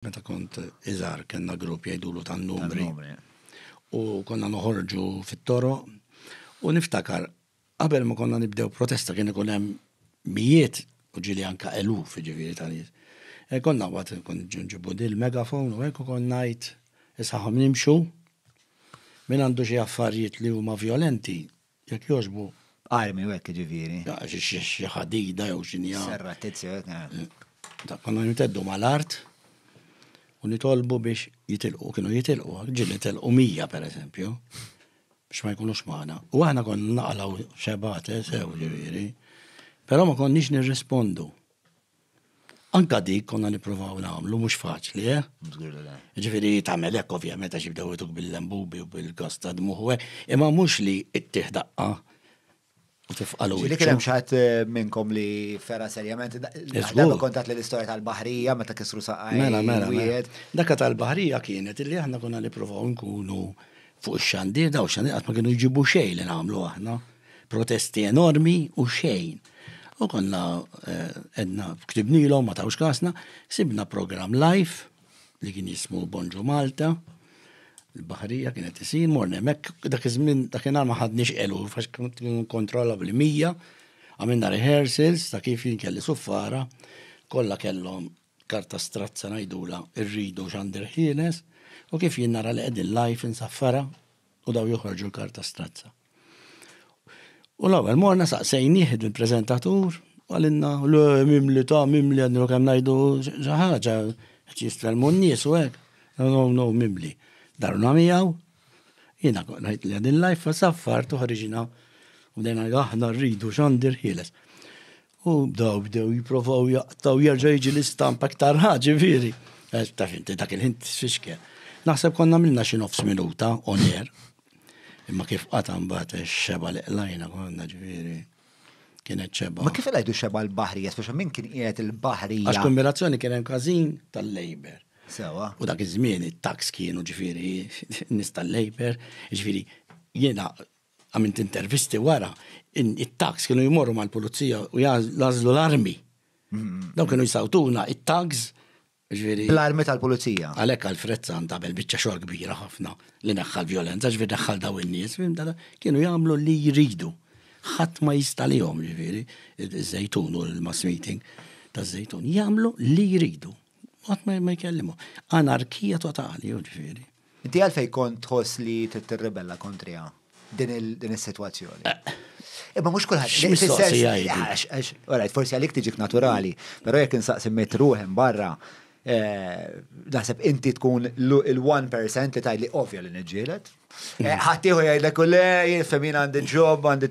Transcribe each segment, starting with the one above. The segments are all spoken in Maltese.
Meta kont iżgħar kellna grupp jgħidulu tan-numri. U konna noħorġu fit-toro u niftakar qabel ma konna nibdew protesta kien ikun hemm mijiet u ġili anka eluf ġifieri ta' nies. E konna waqt kont ġunġibu dil megafon u hekk konna ngħid isaħħom nimxu minn għandu xi affarijiet li huma violenti Jekk jogħġbu. Armi u hekk jiġifieri. Xi ħadida jew xi nija. Serra tizzi hekk. Eh. Konna niteddu mal-art u nitolbu biex jitilqu, kienu jitilqu, ġil jitilqu mija per eżempju, biex ma jkunux maħna. U aħna konna naqlaw xebate, sew ġifieri, però ma konniex nirrispondu. Anka dik konna nippruvaw nagħmlu mhux faċli, eh? Żgur li le. Ġifieri tagħmel hekk ovvjament għax jibdew ituk bil-lembubi u bil-gas ta' dmuħ u hekk, imma mhux li ttih daqqa u tifqalu. Ġieli kien hemm xatt eh, minnkom li fera serjament. Żgur. Kontat li l-istorja tal-baħrija meta kisru saqaj. Mela, mela, mela. Dak tal-baħrija kienet illi aħna konna nippruvaw nkunu Fuq ix-xandir daw xandir qatt ma kienu jġibu xejn li nagħmlu aħna. Protesti enormi u xejn. U konna eh, edna ktibnilhom ma tawx kasna, sibna programm live li kien jismu Bonġu Malta, il-baħrija kienet isir, morna mek, dak iż-żmien dak inhar ma ħadniex elu, fax kien kontrolla bli mija, għamilna rehearsals ta' kif jinkelli suffara, kollha kellhom karta strazza ngħidulha rridu xandir ħieles u kif jien nara li qegħdin live insaffara u daw joħorġu l-karta strazza. U l-ewwel morna saqsejnieh il-preżentatur u għalinna l mimli ta' mimli għadnu kemm ngħidu xi ħaġa qed jistrelmu n-nies u hekk. No no mimli. Darna miegħu jiena ngħid li qegħdin live saffar toħriġna u dejna aħna rridu xandir ħieles. U daw bdew jiprofaw jaqtaw jerġa' jiġi l-istampa aktar ħaġi viri. Eh, taf inti dak il-ħin tisfixkel. Naħseb konna minna xi nofs minuta on air. Imma kif qata' mbagħad xeba li qlajna konna ġifieri kienet ċeba. Ma kif għajdu xeba l-bahrija, speċa minn kien qiegħed il-bahrija. Għax kombinazzjoni kien hemm każin tal-Labor. Sewa. U dak iż-żmien it-tax kienu ġifieri nis tal-Labor, ġifieri jiena Għamilt intervisti wara, it-tags kienu jmorru mal-pulizija u jazlu l-armi. Daw kienu jisawtuna it-tags. L-armi tal-pulizija. Għalek għal-Fred San tabel bieċa xogħol kbira ħafna li neħħal violenza, ġviri neħħal daw in-nies, kienu jagħmlu li jridu. Ħadd ma jista' lihom ġviri, iż-żejtun u l-mass meeting ta' żejtun jagħmlu li jridu. Qatt ma jkellimu. Anarkija totali, ġviri. Inti għalfej kont tħoss li trid tirribella kontriha din is-sitwazzjoni. Eh. Imma mhux kulħadd. X'mistoqsija Għalajt, forsi għalik tiġik naturali, però jekk insaqsi mit ruħem barra, eh, naħseb inti tkun l-1% li tajli ovvja li niġġielet. Eh, ħaddieħu jgħidlek u le, jifhem jien għandi ġob, għandi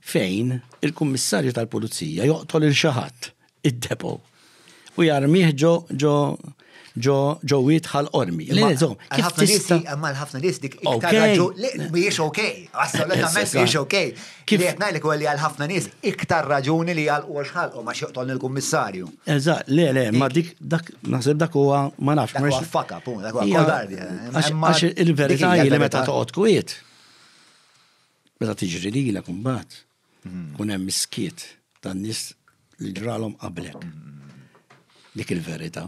fejn il-Kummissarju tal-Pulizija joqtol il xi ħadd id-depo u jarmih ġo ġo ġo ġo witħal qormi. Kif tista' imma l-ħafna nies dik iktar raġu mhijiex ok, assolutament mhijiex ok. Kif qed ngħidlek li għal ħafna nies iktar raġuni li għal huwa xħalqu ma x'joqtol il-kummissarju. Eżatt, le le, ma dik dak naħseb dak huwa ma nafx. Dak huwa faka, pun, dak huwa kodardja. Għax il-verità li meta toqgħod kwiet Meta tiġri lilek imbagħad, mm-hmm. kun hemm iskiet tan-nies li ġralhom qablek. Mm-hmm. Dik il-verità.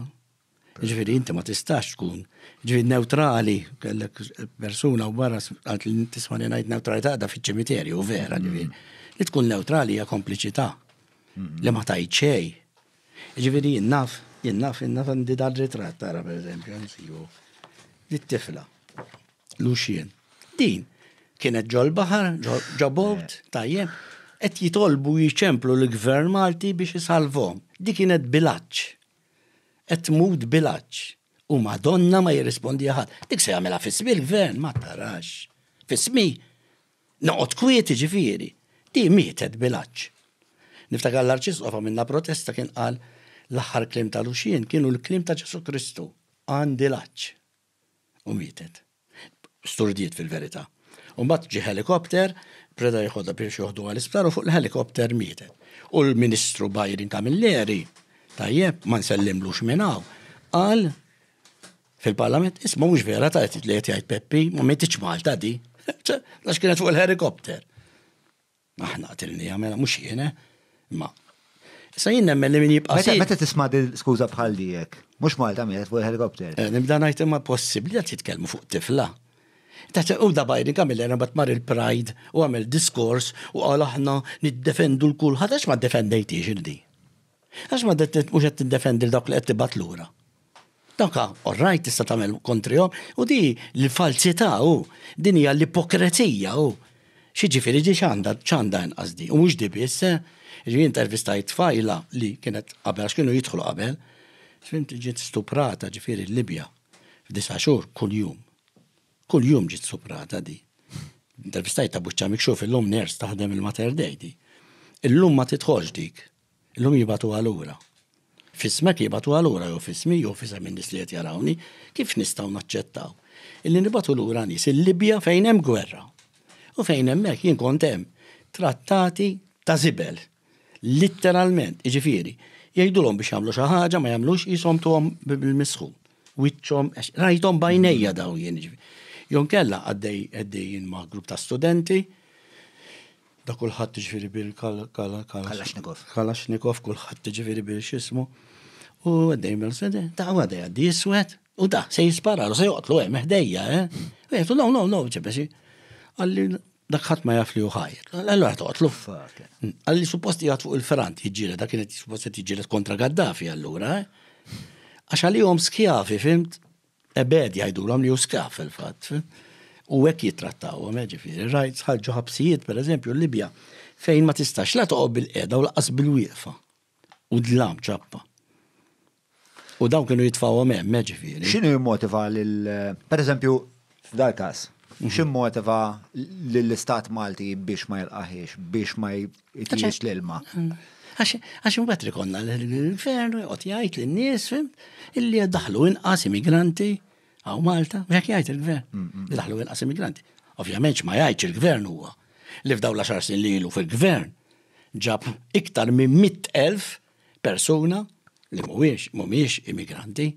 Ġifieri inti ma tistax tkun ġifieri neutrali, kellek persuna u barra għad li tismani ngħid neutralità da fiċ-ċimiterju, vera mm-hmm. ġifieri. Li tkun neutrali hija kompliċità li ma tajt xej. Ġifieri jinnaf, jinnaf, jinnaf għandi dal-ritratt tara pereżempju, nsibu. Dit-tifla. Luxien. Din kienet ġol-baħar, ġobot, tajjeb, qed jitolbu jiċemplu l-gvern Malti biex isalvom. Di kienet bilaċ. Qed tmut bilaċ. U madonna ma jirrispondi ħadd. Dik se jagħmilha fismi l-gvern, ma tarax. Fismi. Noqgħod kwieti ġifieri. Di mietet bilaċ. Niftakar l-arċisqofa minna protesta kien qal l-aħħar klim tal-uxien kienu l-klim ta' Ġesu Kristu. Għandi laċ. u mietet. Sturdiet fil-verità. U mbagħad ġie ħelikopter, preda jieħodha biex joħduha l-isptar u fuq il-ħelikopter mietet. U l-Ministru Byron Camilleri, tajjeb, ma nsellimlux minn hawn, qal fil-Parlament, isma' mhux vera ta' li qed jgħid Peppi, ma metiċ Malta di. Għax kienet fuq il-ħelikopter. Aħna qatilniha, mela mhux jien, eh? Imma Issa jien nemmen li min jibqa' Meta meta tisma' din skuża bħal dijek, mhux Malta mietet fuq il-helikopter. Eh, nibda ngħid imma possibbli qed jitkellmu fuq tifla. Ta' u da Biden kamil era bat mar il-Pride u għamel diskors u qal aħna niddefendu l-kulħadd għax ma ddefendejtix il-di. Għax ma mhux qed tiddefendi l-dawk li qed tibgħat lura. Doka, all right, tista' tagħmel kontrihom, u di l-falsità u din hija l-ipokrezija u xi ġifieri di x'għandha x'għandha inqas di. U mhux di biss, eh? ġi intervistajt tfajla li kienet qabel għax kienu jidħlu qabel, fimti ġiet stuprata ġifieri l-Libja f'disa' xhur kuljum. Kuljum ġiet stuprata di. Intervistajt ta' buċċa mikxuf illum ners taħdem il-Mater Dej di. Illum ma titħoġ dik. Illum jibgħatuha lura. F'ismek jibgħatuha lura jew f'ismi jew f'isem in-nies li qed jarawni, kif nistgħu naċċettaw illi nibgħatu lura nies il-Libja fejn hemm gwerra u fejn hemmhekk jien kont hemm trattati ta' żibel. Litteralment, jiġifieri, jgħidulhom biex jagħmlu xi ħaġa ma jagħmlux qishom tuhom bil-misħu. Wiċċhom għax rajthom bajnejja daw jien. Jon kella għaddej għaddejjin ma' grupp ta' studenti Da kulħadd jiġifieri bil Kalashnikov. Kalashnikov kulħadd jiġifieri bil x'ismu. U għaddej mel sede, da għaddej għaddi jiswed, u da se jispararu, se joqtlu hemm ħdejja, eh? Għetu, no, no, no, ġebesi. Għalli dak ħadd ma jaf li uħajr. Allora toqtlu. Għalli supposti jgħat fuq il-ferant jġire, dak kienet supposti jġire kontra Gaddafi allura, eh? Għax għalihom skjavi, fimt? Ebegħed jgħidulhom li hu sklav fil-fatt. U hekk jittrattawhom, eh, ġifieri, rajt sħarġu ħabsijiet pereżempju l-Libja fejn ma tistax la toqgħod bil-qiegħda u laqas bil-wieqfa. U dlam ċappa. U dawn kienu jitfawhom hemm, eh, ġifieri. X'inhu jimmotiva lil pereżempju f'dal każ, x'immotiva lill-Istat Malti biex ma jilqaħiex, biex ma Tiex l-ilma. Għax imbagħad rikonna l-infernu jqgħod jgħid lin-nies illi qed daħlu inqas immigranti għaw Malta, jekk jgħid il-gvern, mm, mm. li daħlu inqas immigranti. Ovvjament ma jgħidx il-gvern huwa li f'daw l-10 snin li ilu fil-gvern ġab iktar minn 100,000 Persuna li mhuwiex, mhumiex immigranti.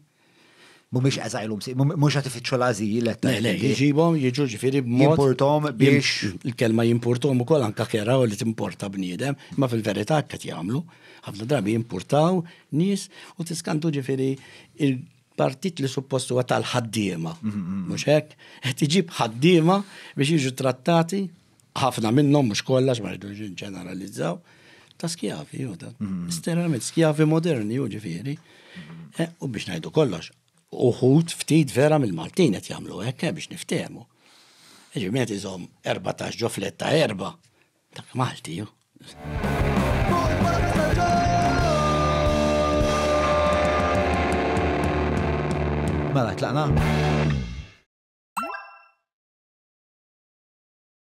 Mhumiex asylum, mhux qed ifittxu l-ażil qed Le, le, jġibhom, jiġu ġifieri b'mod. Jimportom biex. Il-kelma jimportom ukoll anke kera li timporta bniedem, imma fil-verità hekk qed jagħmlu. Ħafna drabi jimpurtaw nies u tiskantu ġifieri il-partit li suppost huwa tal-ħaddiema. Mhux hekk? Qed iġib ħaddiema biex jiġu trattati ħafna minnhom mhux kollox ma rridux ġeneralizzaw ta' skjavi, u ta' mhm. sterament skjavi moderni, u ġifieri. Eh, u biex ngħidu kollox, uħut ftit vera mill-Maltin qed jagħmlu hekk eh, biex niftehmu. Ġimet iżom 14 ġo fletta erba ta' Malti. Mela, tlaqna.